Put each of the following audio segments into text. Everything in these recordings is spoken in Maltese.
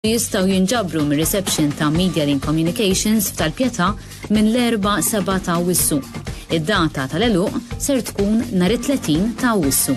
jistaw jinġabru mir reception ta' Media Link Communications f'tal-pjeta minn l-4 7 ta' wissu. Id-data tal-eluq ser tkun nar 30 ta' wissu.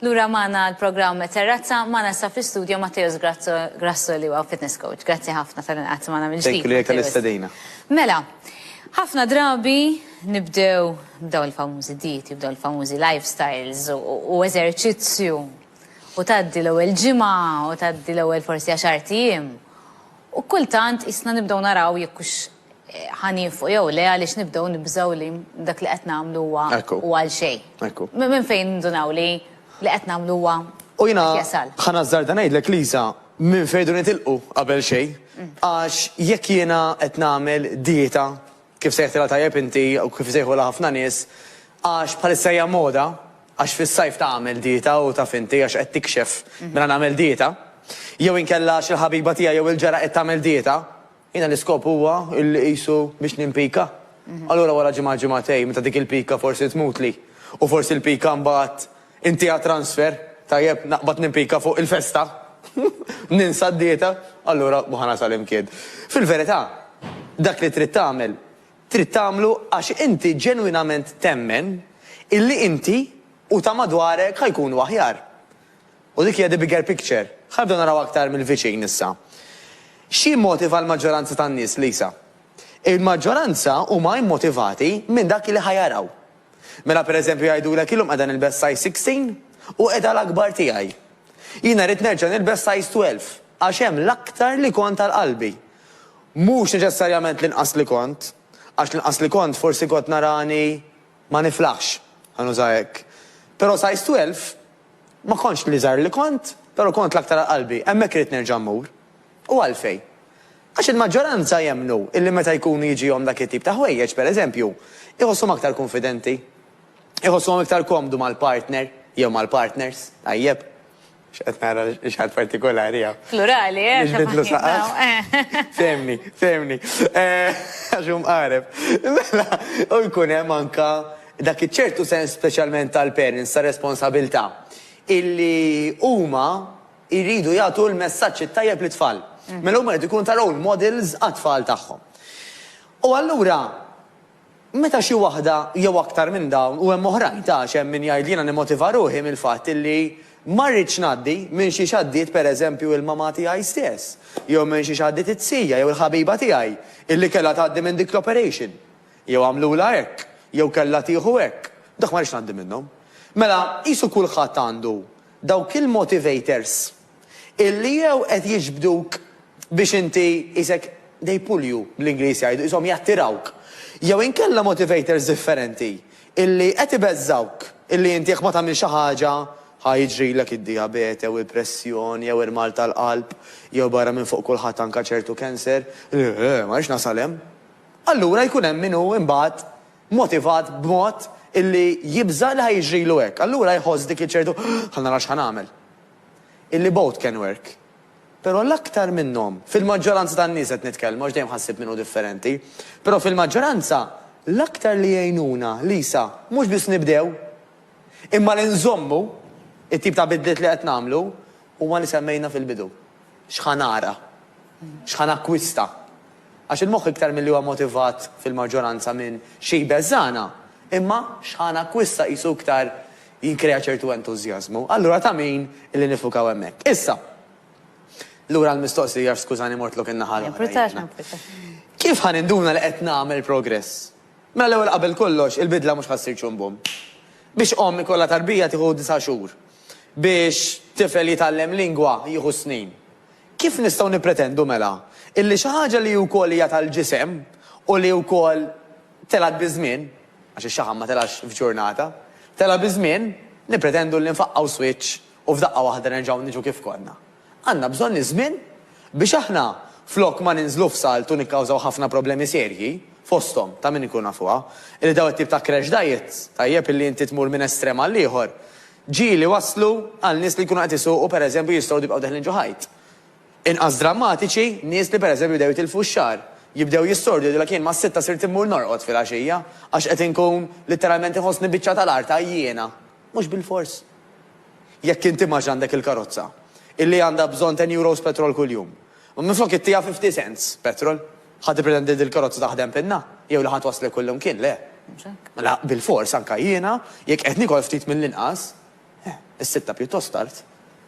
Lura magħna għall-programm Terrazza, magħna issa fl-istudjo Matteus Grasso li huwa fitness coach. Grazzi ħafna tal-li qgħadt magħna mill-ġdid. Thank you lilek tal-istedina. Mela, ħafna drabi nibdew b'dawn il-famużi dieti, b'dawn il-famużi lifestyles u eżerċizzju u tgħaddi l-ewwel ġimgħa u tgħaddi l-ewwel forsi għaxart ijiem. U kultant isna nibdew naraw jekk hux ħa nienfqu jew le għaliex nibdew nibżgħu li dak li qed nagħmlu huwa huwa għal xejn. Minn fejn nindunaw li li qed nagħmlu huwa qed jasal? U jiena ħa nażżarda ngħidlek Lisa, minn fejn irdu nitilqu qabel xejn. Għax jekk jiena qed nagħmel dieta, kif sejħtilha tajjeb inti u kif isejħulha ħafna nies, għax bħalissa hija moda, għax fis-sajf tagħmel dieta u taf inti għax qed tikxef mela nagħmel dieta, jew inkella għax il-ħabiba tiegħi jew il-ġara qed tagħmel dieta, Jiena l-iskop huwa illi qisu biex nimpika. Allura wara ġimgħa ġimgħatejn meta dik il-pika forsi tmutli u forsi l-pika mbagħad intiha transfer, tajjeb naqbad nimpika fuq il-festa, ninsa d-dieta, allura hu ħanasal imkien. Fil-verità, dak li trid tagħmel, trid tagħmlu għax inti ġenwinament temmen illi inti u ta' madwarek ħa jkunu aħjar. U dik hija the bigger picture. Ħa nibdew naraw aktar mill-viċin issa. X'jimmotiva l-maġġoranza tan-nies, Lisa? Il-maġġoranza huma immotivati minn dak li ħa jaraw. Mela pereżempju jgħidulek illum qiegħda nilbes size 16 u qiegħda l-akbar tiegħi. Jiena rrid nerġa' nilbes size 12 għax hemm l-aktar li kont għal qalbi. Mhux neċessarjament l-inqas li kont, għax l-inqas li kont forsi kont narani ma niflaħx, ħa nuża hekk. Però size 12 Ma kontx l-iżgħar li kont, però kont l-aktar għal qalbi. Hemmhekk irrid nerġa' mmur. U għalfejn? Għax il-maġġoranza jemmnu illi meta jkunu jiġihom dak it-tip ta' ħwejjeġ, per eżempju, iħosshom aktar kunfidenti. Iħossuhom iktar komdu mal-partner, jew mal-partners, tajjeb. X'qed nara li xi ħadd partikulari hawn. Plurali, eh, ta' faħħieħ. Biex nibidlu saqaf? Eh. Fehmni, fehmni. Eh, għax hu mqareb. Mela, u jkun hemm anke Dak iċ-ċertu sens speċjalment tal-parents ta' responsabilità illi huma jridu jagħtu l-messaġġ it-tajjeb lit-tfal. Mela huma jridu jkunu ta' role models għat-tfal tagħhom. U allura meta xi waħda jew aktar minn dawn, u hemm oħrajn ta' għax hemm min jgħid li jiena nimmotiva ruħi mill-fatt illi ma rridx ngħaddi minn xiex għaddiet per eżempju il-mamà tiegħi stess, jew minn xiex għaddiet it-zija jew il-ħabiba tiegħi illi kellha tgħaddi minn dik l-operation. Jew għamlulha hekk, jew kellha tieħu hekk. Dak ma rridx ngħaddi minnhom. Mela, qisu kulħadd għandu dawk il-motivators illi jew qed jiġbduk biex inti qisek they pull you, bl-Ingliż jgħidu, qishom jattirawk, jew inkella motivators differenti illi qed ibeżżgħuk illi inti jekk ma tagħmilx xi ħaġa ħa jiġrilek id-dijabete jew il-pressjoni jew il-mard tal-qalb jew barra minn fuq kulħadd anke ċertu cancer. Le, ma rridx nasal hemm. allura jkun hemm min hu imbagħad motivat b'mod illi jibża' li ħa jiġrilu hekk. Allura jħoss dik iċ-ċertu ħa nara x'ħa nagħmel. Illi both can work. Però l-aktar minnhom, fil-maġġoranza tan-nies qed nitkellmu għax dejjem ħassib min hu differenti, però fil-maġġoranza l-aktar li jgħinuna, Lisa, mhux biss nibdew, imma li nżommu t-tip ta' bidliet li qed nagħmlu huma li semmejna fil-bidu. X'ħa nara? X'ħa nakkwista? Għax il-moħħ iktar milli huwa motivat fil-maġġoranza minn xi jbeżżagħna, imma x'ħa nakkwista qisu iktar jikkrea ċertu entużjażmu. Allura ta' min illi niffukaw hemmhekk. Issa, lura għall-mistoqsija għax skużani mortlok in-naħa l-oħra jiena. Kif ħa ninduna li qed nagħmel progress? Mela l-ewwel qabel kollox il-bidla mhux ħa ssir ċumbum. Biex omm ikollha tarbija tieħu disa' xhur. Biex tifel jitgħallem lingwa jieħu s-snin. Kif nistgħu nippretendu mela illi xi ħaġa li wkoll hija tal-ġisem u li wkoll telgħet biż-żmien, għax ix-xaħam ma telgħax f'ġurnata, telgħa biż-żmien, nippretendu li nfaqqgħu swiċċ u f'daqqa waħda nerġgħu niġu kif konna? Għandna bżonn iż-żmien biex aħna flok ma ninżlu f'salt u nikkawżaw ħafna problemi serji, fosthom, ta' min inkunu nafuha, li dawn it-tip ta' crash diets, tajjeb, illi inti tmur minn estrem għal ieħor, ġieli waslu għal nies li jkunu qed isuqu, per eżempju, jistgħu jibqgħu deħlin ġo ħajt. Inqas drammatiċi, nies li, per eżempju, jibdew jitilfu x-xagħar, jibdew jissordu jgħidulek jien mas-sitta sirt immur norqod filgħaxija għax qed inkun, litteralment, inħossni biċċa tal-art għajjiena. Mhux bilfors. Jekk inti m'għadx għandek il-karozza, illi għandha bżonn ten euros petrol kuljum, u minflok ittiha fifty cents petrol, ħa tippretendi li din il-karozza taħdem pinna? Jew li ħa twasslek kullimkien? Le. Mhux hekk? Mela, bilfors, anke jiena, jekk qed niekol ftit mill-inqas, is-sitta pjuttost tard.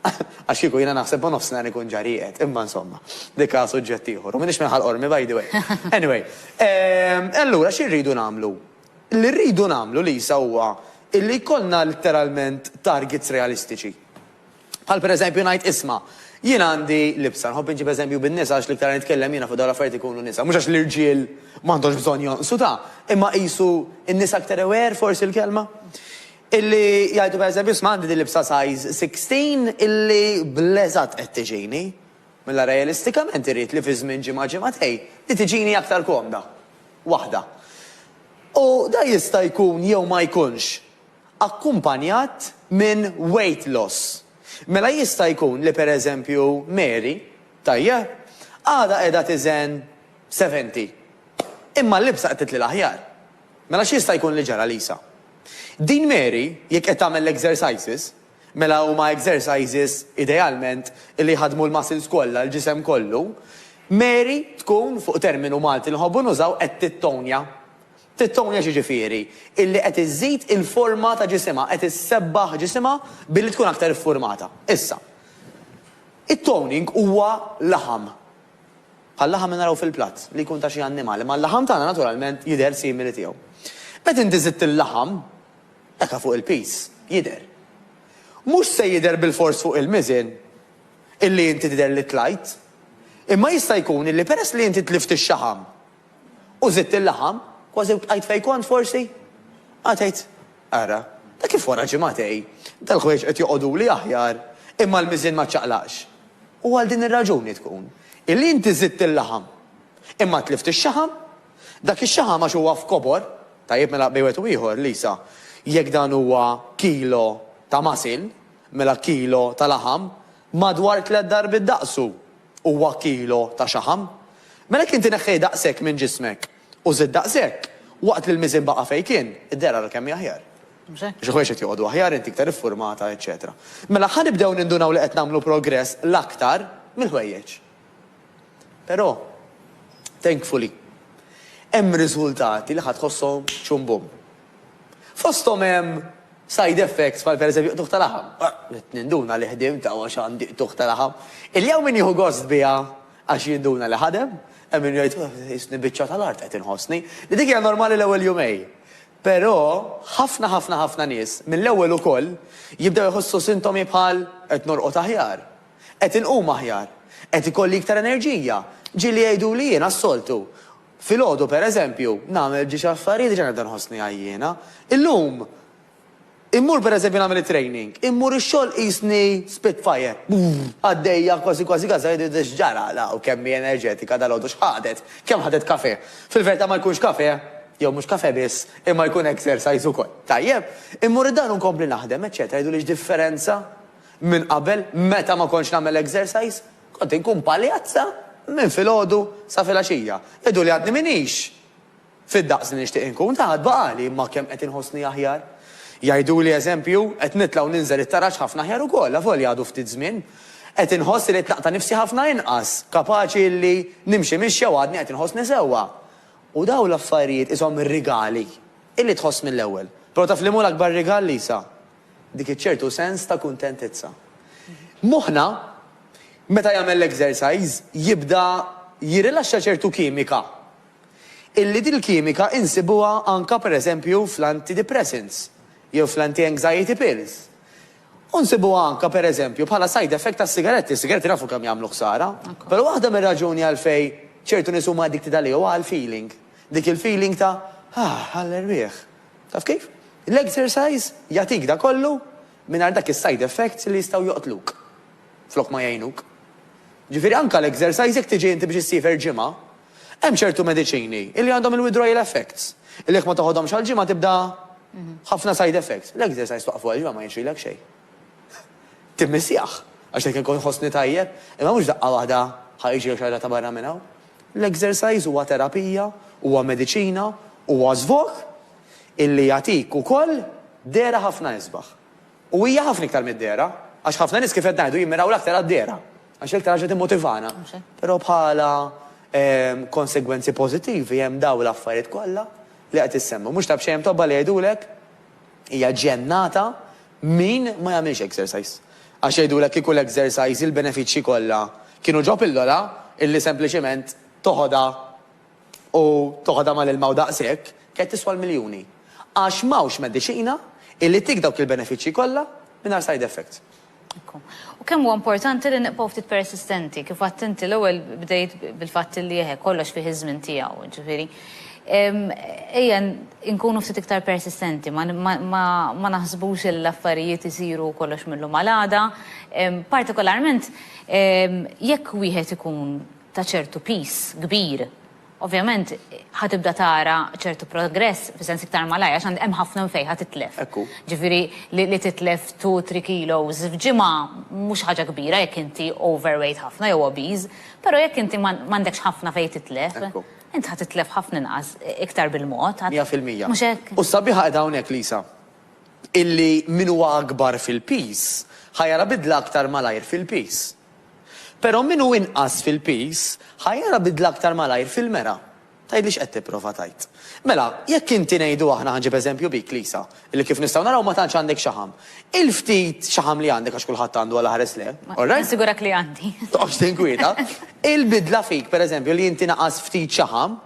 Għax kieku jiena naħseb ma' nofsinhar inkun ġa rieqed. Imma insomma, dik ha suġġett ieħor. U m'iniex minn Ħal Qormi, by the way. Anyway, e allura xi rridu nagħmlu? Li rridu nagħmlu, Lisa, huwa illi jkollna litteralment targets realistiċi. Bħal pereżempju ngħid, isma', jien għandi libsa, nħobb inġib eżempju bin-nisa għax l-iktar li nitkellem jiena fuq dawn l-affarijiet ikunu nisa, mhux għax l-irġiel m'għandhomx bżonn jonqsu ta', imma qisu n-nisa iktar aware, forsi l-kelma, illi jgħidu pereżempju, isma' għandi din libsa size 16 illi bl-eżatt qed tiġini. Mela realistikament irrid li fi żmien ġimgħa ġimgħatejn li tiġini aktar komda. Waħda. U dan jista' jkun jew ma jkunx akkumpanjat minn weight loss. Mela jista' jkun li per eżempju Mary, tajjeb, għadha qiegħda tiżen 70. Imma l-libsa qed titli l-aħjar. Mela x'jista' jkun li ġara Lisa? Din Mary jekk qed tagħmel l-exercises, Mela huma exercises, idealment, illi jħaddmu l-muscles kollha, l-ġisem kollu. Mary tkun, fuq terminu Malti li nħobbu nużaw, qed tittonja. Tittonja x'jiġifieri? Illi qed iżżid il-forma ta' ġisimha, qed issebbaħ ġisimha billi tkun aktar iffurmata. Issa, it-toning huwa laħam. Bħal-laħam li naraw fil-platt, li jkun ta' xi annimal, imma l-laħam tagħna naturalment jidher simili tiegħu. Meta inti żidt il-laħam, Daka fuq il-piż jidher. Mhux se jidher bilfors fuq il-miżien illi inti tidher li tlajt, imma jista' jkun illi peress li inti tlift ix-xaħam u żidt il-laħam, kważi bqajt fejn kont forsi? Ara tgħid, ara, ta' kif wara ġimagħtej, dal-ħwejjeġ qed joqogħduli aħjar, imma l-miżien ma ċċaqlaqx. U għal din ir-raġuni tkun illi inti żidt il-laħam, imma tlift ix-xaħam. Dak ix-xaħam għax huwa f'kobor, tajjeb mela bejn wieħed u ieħor, Lisa, jekk dan huwa kilo ta' masil, mela kilo ta' laħam madwar tliet darbiet daqsu huwa kilo ta' xaħam. Mela jekk inti neħħejt daqshekk minn ġismek u żidt daqshekk, waqt li l-miżien baqa' fejn kien, idher ara kemm hi aħjar. Għax il-ħwejjeġ qed joqogħdu aħjar, inti iktar iffurmata, eċċetera. Mela ħa nibdew nindunaw li qed nagħmlu progress l-aktar mill-ħwejjeġ. Però, thankfully, hemm riżultati li ħa tħosshom chum bum. Fosthom hemm side effects bħal pereżempju qtugħ ta' laħam. Bdiet ninduna li ħdimt għax għandi qtugħ ta' laħam. Illi hawn min jieħu gost biha għax jinduna li ħadem, hemm min jgħid qisni biċċa tal-art qed inħossni, li dik hija normali l-ewwel jumej. Però, ħafna ħafna ħafna nies, mill-ewwel ukoll, jibdew iħossu sintomi bħal qed norqod aħjar, Qed inqum aħjar. Qed ikolli iktar enerġija. Ġieli jgħiduli jiena s-soltu. Filgħodu, per eżempju, nagħmel ġiex affarijiet diġà nibda nħossni għajjiena. Illum immur per eżempju nagħmel it-training, immur ix-xogħol qisni spitfire. Għaddejja kważi kważi kważi jgħiduli x'ġara la u kemm hi enerġetika dalgħodu x'ħadet, kemm ħadet kafè. Fil-verità ma jkunx kafè, jew mhux kafè biss, imma jkun exercise ukoll. Tajjeb. Immur id-dar u nkompli naħdem, eċċetera jgħiduli x'differenza? Minn qabel, meta ma kontx nagħmel exercise, kont inkun paljazza minn filgħodu sa filgħaxija. Jgħiduli għadni m'iniex fid-daqs li nixtieq inkun, ta' għad baqgħali imma kemm qed inħossni aħjar. Jgħiduli eżempju, qed nitla' u ninżel it-taraġ ħafna aħjar ukoll, avolja għadu ftit żmien. Qed inħoss li t-tlaq ta' nifsi ħafna inqas, kapaċi li nimxi mixja u għadni qed inħossni sewwa. U dawn l-affarijiet qishom rigali, illi tħoss mill-ewwel. Però taf liema hu l-akbar rigal, Lisa? Dik iċ-ċertu sens ta' kuntentizza. Moħħna, meta jagħmel l-exercise, jibda jirrilaxxa ċertu kimika. Illi dil-kimika insibuha anke per eżempju fl-antidepressants jew fl-anti-anxiety pills. U nsibuha anke per eżempju bħala side effect tas-sigaretti. Is-sigaretti nafu kemm jagħmlu ħsara. Però waħda mir-raġuni għalfejn ċertu nies huma addicted għalih huwa għall-feeling. Dik il-feeling ta' ah, għall-erwieħ. Taf kif? L-exercise jagħtik dak kollu mingħajr dak is-side effects li jistgħu joqtluk flok ma jgħinuk. Ġifieri anke l-exercise jekk tiġi inti biex issiefer ġimgħa, hemm ċertu mediċini li għandhom il-withdrawal effects, li jekk ma toħodhomx għal ġimgħa tibda ħafna side effects. L-exercise twaqqfu għal ġimgħa ma jixrilek xejn. Timmissjah, għax jekk inkun inħossni tajjeb, imma mhux daqqa waħda ħa jiġrilek xi ħaġa ta' barra minn hawn. L-exercise huwa terapija, huwa mediċina, huwa żvog illi jagħtik ukoll dehra ħafna isbaħ. U hija ħafna iktar mid-dehra, għax ħafna nies kif qed ngħidu jimmiraw l-aktar għad-dehra, għax l-iktar ħaġa timmotivana. Però bħala konsegwenzi pożittivi hemm dawn l-affarijiet kollha li qed issemmu. Mhux ta' b'xejn hemm tobba li jgħidulek, Hija ġennata min ma jagħmilx exercise. Għax jgħidulek kieku l-exercise il-benefiċċji kollha kienu ġo pillola illi sempliċement toħodha u toħodha mal-ilma u daqshekk, kienet tiswa l-miljuni. Għax m'hawnx mediċina illi ttik dawk il-benefiċċji kollha mingħajr side effects. U kemm huwa importanti li nibqgħu ftit persistenti, kif għadt inti l-ewwel bdejt bil-fatt li eħe, kollox fih iż-żmien tiegħu, jiġifieri ejja nkunu ftit iktar persistenti, ma naħsbux li l-affarijiet isiru kollox mil-lum għal għada, partikolarment jekk wieħed ikun ta' ċertu piż kbir Ovvjament ħa tibda tara ċertu progress f'sens iktar malajr għax hemm ħafna minn fejn ħa titlef. Ġifieri li titlef two, three kilos f'ġimgħa mhux ħaġa kbira jekk inti overweight ħafna jew obese, però jekk inti m'għandekx ħafna fejn titlef, int ħa titlef ħafna inqas iktar bil-mod. Mija fil-mija. Mhux hekk? U s-sabiħa qiegħda hawnhekk, Lisa, illi min huwa akbar fil-piż ħa jara bidla aktar malajr fil-piż. Però min hu inqas fil-piż ħa jara bidla aktar malajr fil-mera. Tgħidli x'qed tipprova tgħid. Mela, jekk inti ngħidu aħna ħa nġib eżempju bik, Lisa, li kif nistgħu naraw ma tantx għandek xaħam. Il-ftit xaħam li għandek għax kulħadd għandu għala ħares le, all right? Nassigurek li għandi. Toqgħodx tinkwieta. Il-bidla fik, pereżempju, li inti naqas ftit xaħam,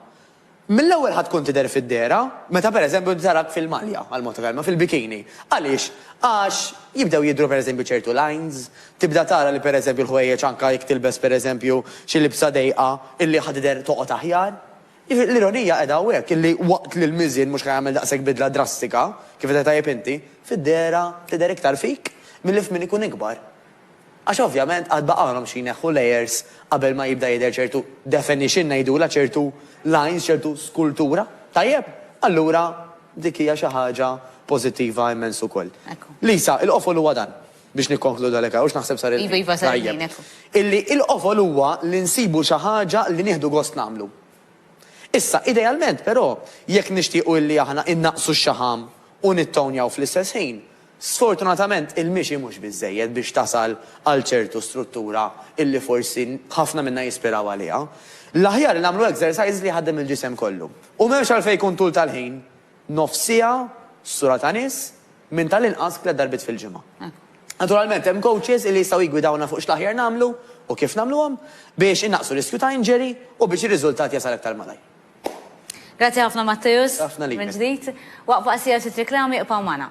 Mill-ewwel ħa tkun tidher fid-dehra meta pereżempju inti tarak fil-malja, għal mod ta' kelma, fil-bikini. Għaliex? Għax jibdew jidhru pereżempju ċertu lines, tibda tara li pereżempju l-ħwejjeġ anke jekk tilbes pereżempju xi libsa dejqa illi ħa tidher toqgħod aħjar. Jiġifieri l-ironija qiegħda hawnhekk illi waqt li l-miżien mhux ħa jagħmel daqshekk bidla drastika, kif għedt tajjeb inti, fid-dehra tidher iktar fik milli f'min ikun ikbar. Għax ovvjament għad baqgħulhom xi jneħħu layers qabel ma jibda jidher ċertu definition ngħidulha, ċertu lines, ċertu skultura. Tajjeb? Allura dik hija xi ħaġa pożittiva immens ukoll. Lisa, il-qofol huwa dan, biex nikkonkludu għalhekk hawn, x'naħseb sar il-ħin. Iva, iva, sar il-ħin, hekk hu. Illi l-qofol huwa li nsibu xi ħaġa li nieħdu gost nagħmlu. Issa, idealment, però, jekk nixtiequ illi aħna innaqqsu x-xaħam u nittownjaw fl-istess ħin, Sfortunatament il-mixi mhux biżżejjed biex tasal għal ċertu struttura illi forsi ħafna minna jispiraw għaliha. L-aħjar li nagħmlu exercise li jħaddem il-ġisem kollu. U m'hemmx għalfejn jkun tul tal-ħin, nofs siegħa, sura ta' nies, minn tal-inqas tliet darbiet fil-ġimgħa. Naturalment hemm coaches illi jistgħu jiggwidawna fuq x'l-aħjar nagħmlu u kif nagħmluhom biex innaqqsu riskju ta' injury u biex ir-riżultat jasal aktar malajr. Grazzi ħafna Matteus. Ħafna lilek. Minn ġdid. Waqfa qasira trid reklami iqpaw magħna.